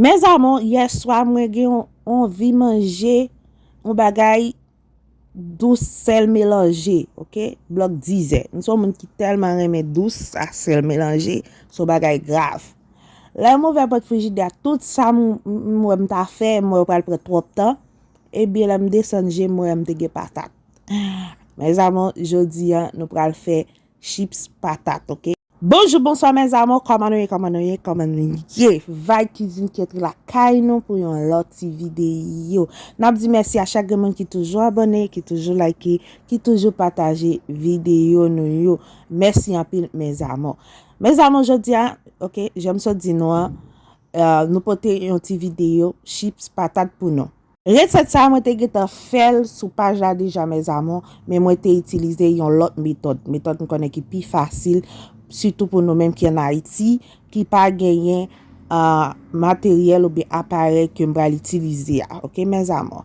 Mes amour yèswa mwen gen yon anvi manje yon bagay dous sèl melanje ok blòk dizè m son moun ki tèlman renmen dous a sèl melanje son bagay grav lè m ouvè pòt frijidè a tout sa m wè m ta fè m wè pral pran twòp tan ebyen lè m desann je m wè m te gen patat mes amour jodi an nou pral fè chips patat ok. Bonjou bonswa mes amour kòman nou ye kòman nou ye kòman nou ye vibe cuisine ketri lakay nou pou yon lòt ti video nap di mèsi a chak gen moun ki toujou abòne ki toujou like ki toujou pataje video nou yo mèsi anpil mes amour mes amour jodia ok jèm sot di nou an euh, nou pote yon ti video chips patat pou nou Resèt sa mwen te gentan fèl sou paj la deja mes amours men mwen te itilize yon lòt metòd, metòd m konnen ki pi fasil sitou pou nou menm ki an Ayiti ki pa genyen materyèl oubyen aparèy ke m pral itilize a ok mes amours.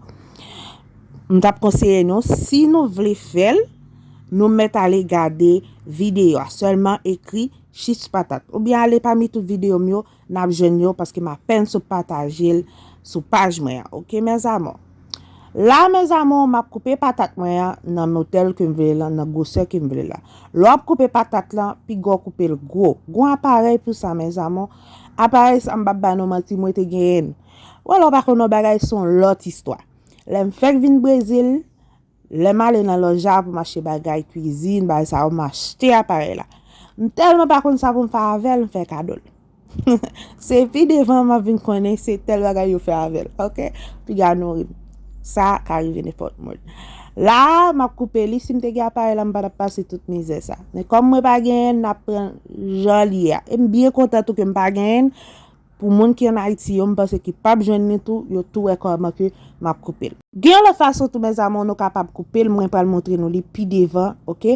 M tap konseye nou si nou vle fèl nou mèt ale gade videyo a sèlman ekri chich patat oubyen ale pami tout videyo m yo Nap jwenn yo paske m apèn sot pataje l sou paj mwen an ok mes amour. La mes amour map koupe patat mwen an nan motèl kem vle lan nan gwosè kem vle la. Lè wap koupe patat lan piga w koupe l gwo. Gon aparèy pou sa mes amour. Aparèy sa m pap ba nou manti mwen te genyen l. Wè lè w pa konn yon bagay son lòt istwa. Lèm fèk vin Brezil. Lè m ale nan lòj la pou m achte bagay kwizin, bagay sa yo, m achte aparèy la. M tèlman pa konn sa pou m fè avè l, m fè kado l. Se pi devan m ap vin konnen se tèl bagay yo fè avè l. Ok! Piga nou ri m. Sa ka rive nenpòt moun. La a, m ap koupe li. Si m te gen aparèy la, m pa t ap pase tout mizè sa. Men kòm mwen pa genyen, n ap pran l jan li ye a. E m byen kontan tou ke m pa genyen. Pou moun ki an Ayiti yo, m panse ki pap jwenn li tou, yo tou wè kòman ke m ap koupe l. Gen yon lòt fason tou mes amours nou kapab koupe l, mwen pral montre nou li pi devan ok.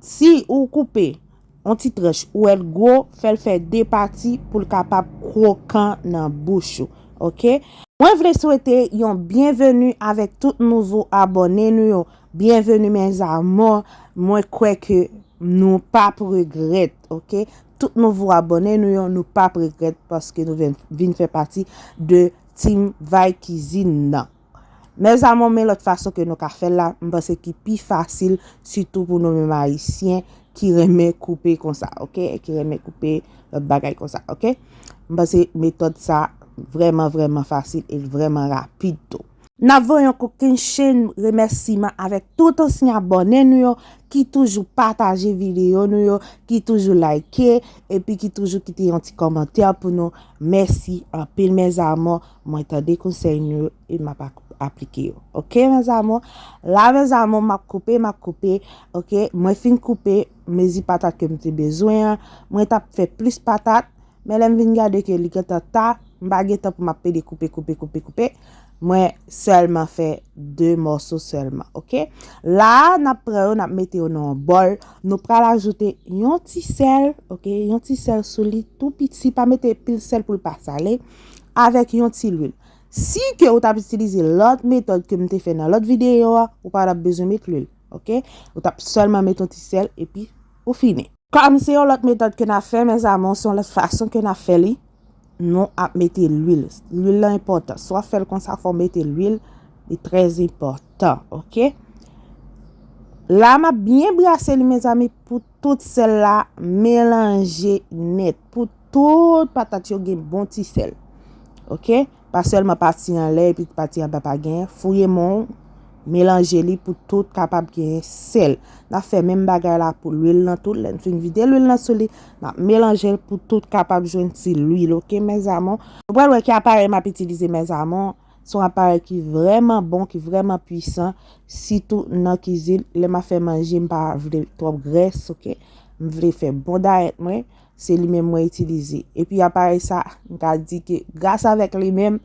Si ou koupe yon ti tranch ou wè l gwo, fè l fè 2 pati pou l kapab kwokan nan bouch ou ok. Mwen vle swete yon byenveni avèk tout nouvo abòne nou yo, byenveni mes amours, mwen kwè ke nou pap regrèt. ok tout nouvo abòne nou yo nou pap regrèt paske nou vin fè pati de team vay kizin nan mes amour men lòt fason ke nou ka fèl la m panse ki pi fasil sitou pou nou menm ayisyen ki renmen koupe konsa ok ki renmen koupe lòt bagay konsa ok m panse metòd sa vrèman vrèman fasil e vrèman rapid tou. Nap voye yon kokenn chenn remèsiman avèk tout ansyen abòne nou yo ki toujou pataje videyo nou yo, ki toujou like epi ki toujou kite yon ti kòmantè pou nou, mèsi anpil mes amours, mwen tande konsèy nou yo e map aplike yo ok mes amours, la mes amours map koupe map koupe ok mwen fin koupe mezi patat kem te bezwen an, mwen tap fè plis patat men lèm vin gade ke li gentan ta, m pa gen tan pou map pede koupe koupe koupe koupe. Mwen sèlman fè 2 mòso sèlman ok. La a n ap pran yo n ap mete yo nan yon bòl. Nou pral ajoute yon ti sèl ok, yon ti sèl sou li tou piti pa mete pil sèl pou l pa sale avèk yon ti lwil. Si ke ou t ap itilize lòt metòd ke m te fè nan lòt videyo a ou pa t ap bezwen met lwil ok. Ou t ap sèlman met yon ti sèl epi ou fini. Pam se yon lòt metòd ke na fè mes amours se yon lòt fason ke na fè li nou ap mete lwil lwil lan enpòtan si wap fèl konsa fòw mete lwil li trè enpòtan ok la map byen brase li mezanmi pou tout sèl la melanje nèt pou tout patat yo gen bon ti sèl ok. Pa sèlman pati anlè epi pati anba pa gen, fouye men w, melanje li pou tout kapab gen sèl. N ap fè menm bagay la pou lwil nan tou, lè n fin vide lwil nan sou li, n ap melanje l pou tout kapab jwenn ti lwil ok mes amour. Nou pral wè ki aparèy m ap itilize mes amour, se yon aparèy ki vrèman bon, ki vrèman pwisan, sitou nan kizin, lè m ap fè manje m pa vle twòp grès ok, m vle fè bon dayèt mwen, Se li menm mwen itilize. E pi aparèy sa, m ka di ke gras avèk li menm,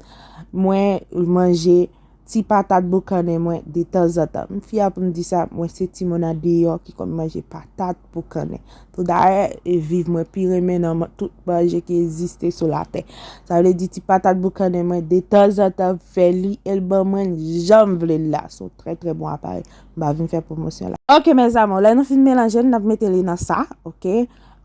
mwen manje ti patat boukannen mwen de tanzantan. M fia pou m di sa, mwen se timoun an deyò ki konn manje patat boukannen. Pou dayè, e viv mwen pi renmen nan tout manje ki egziste sou latè. Sa vle di ti patat boukannen mwen de tanzantan m fè li e l ban mwen l jan m vle l la. Se yon trè trè bon aparèy. M pa vin fè pwomosyon la. Ok mes amours, lè nou fin melanje l, n ap mete li nan sa. Ok.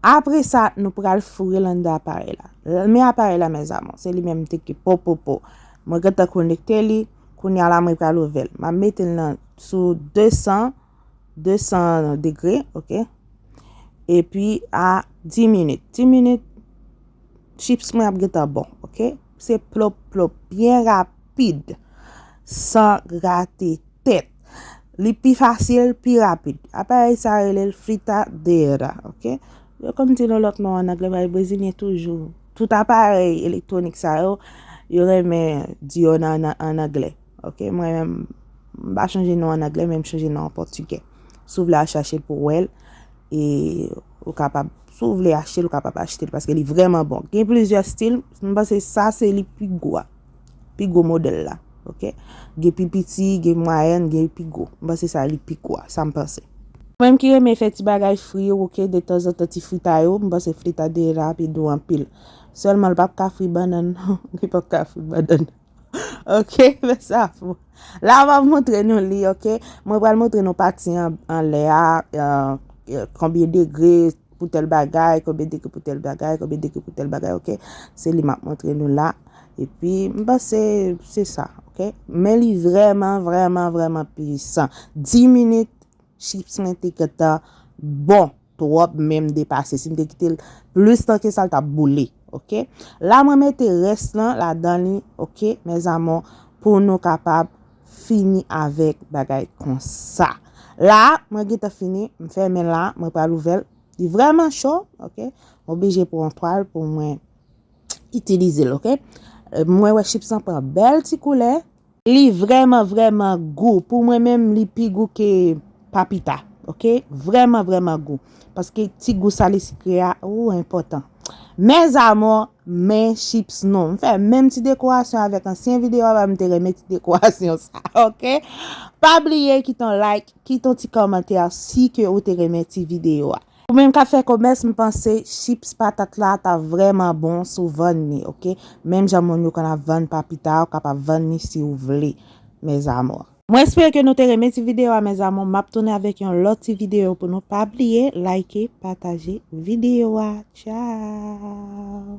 Apre sa, nou pral foure l anndan aparèy la. Men aparèy la mes amour, se li menm te ki popopo. Mwen gentan konekte li, kounya la mwen pral ouvè l. Map mete l nan sou 200, 200 degre, ok. E pi a 10 minit, 10 minit, chips mwen ap gentan bon, ok. Se plop plop, byen rapid, san grate tèt. Li pi fasil, pi rapid. Aparèy sa rele l fritadeira, ok? Yo konn di nou lòt non an anglè, bay brezilyen toujou. Tout aparèy elektwonik sa yo, yo renmen di yo nan an anglè, ok? Mwen menm, m pa chanje non an anglè, men m chanje non an pòtigè. Si w vle al chache l pou wè l, e ou kapab, si w vle achte l, ou kapab achte l, paske li vrèman bon. Gen plizyè stil, m panse sa se li pi gou a. Pi gwo modèl la. Ok. Gen pi piti, gen mwayèn, gen pi gwo. M panse sa li pi gwo a. Sa m panse. Mwen menm ki renmen fè ti bagay fri yo ok detanzantan ti fritay yo m panse fritadera a pi dou anpil. Sèlman l pap ka fri bannann non. Li pap ka fri bannann ok fè sa pou mwen. La m ap montre nou li ok. Mwen pral montre nou pati anlè a. Konbyen degre pou tèl bagay, konbyen degre pou tèl bagay, konbyen degre pou tèl bagay ok, se li map montre nou la, epi m panse se sa ok, men li vrèman vrèman vrèman puisan, 10 minit chips mwen te gentan bon twòp menm depase, si m te kitel plis tan ke sa l tap boule ok, la mwen mete rès lan ladan li ok mes amours pou nou kapab fini avèk bagay konsa la mwen gentan fini m fèmen la mwen pral ouvèl li vrèman cho ok m oblije pran yon twal pou mwen itilize l ok mwen wè chips lan pran bèl ti koulè. Li vrèman vrèman gou pou mwen menm li pi gou ke papita ok vrèman vrèman gou paske ti gou sale sikre a ooh enpòtan. Mes amours men chips nou. M fè menm ti dekorasyon avèk ansyen video a m te renmen ti dekorasyon sa ok. Pa bliye kite yon like, kite yon ti kòmantè si ke ou te renmen ti video a. Ou menm kap fè komès m panse chips patat la ta vrèman bon si w vann li ok. Menm jan moun yo konn ap vann papita ou kapab vann li si ou vle mes amours. Mwen espere ke nou te renmen ti video a mes amour map tounen avek yon lot ti video pou nou pa bliye like pataje video a ciao.